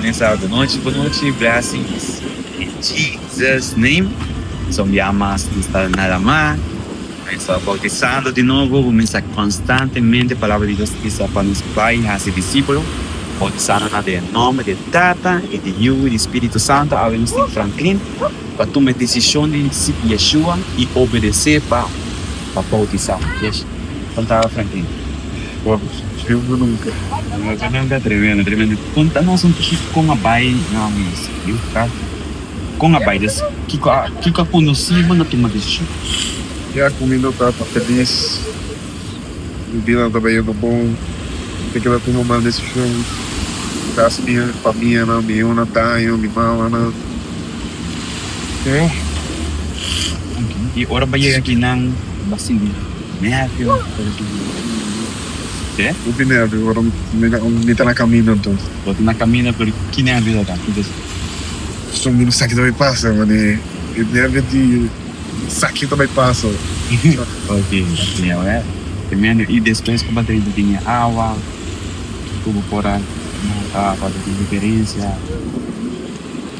Buen sabado nochi pa nochi blessings in Jesus name so bia mas nos ta nada ma nos ta bautisando di nobo bo mester constantemente palabra di Dios bisa pa nos bay haci discipelo bautisando nan den nomber di Tata y di Yu y di Spirito Santo awe nos tin franklin pa tuma e desishon di sigui Yeshua i obedes'é pa boutisá. Kontaba Franklin. Konta nos un poquito kon a bai na mesa di hospital. Kon a bai? Des kiko a kiko a kondusi bo na tuma desishon? Ya ku mi no tabata felis, mi bida no tabata yendo bon, mi ta keda tuma mal desishon. Kasi mi famia nan, mi yunan daño, mi mamanan. Okay. Y ora bo yega aki nan bo a sinti nervio? Te? No tin nervio, ora mi ta na camino anto. Bo ta na camino pero ki nervio ta ta? Ki cosa? Pasobra mi no sa kiko ta bai pasa, mane e nervio di sa kiko ta bai pasa. Okay, okay, a wer. Te mene. Y despues cu bo a drenta den e awa, kico bo por a nota, bo a ta den diferencia?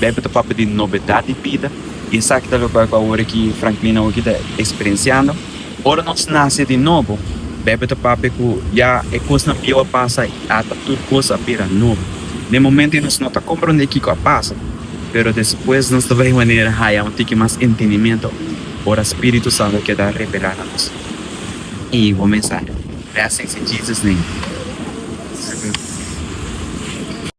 Bebe ta papia di nobedat di bida i esaki ta loke ku awor aki Franklin awor aki ta eksperensiando. Ora nos nase di nobo, bebe ta papia ku ya e kosnan bieu a pasa i ata tur kos a bira nobo. Na e momentu ei nos no ta komprondé kiko a pasa, pero despues nos ta bai manera haya un tiki mas entendimentu ora spiritu santu a keda revelá na nos. I bo mensahe. Blessings in Jesus name.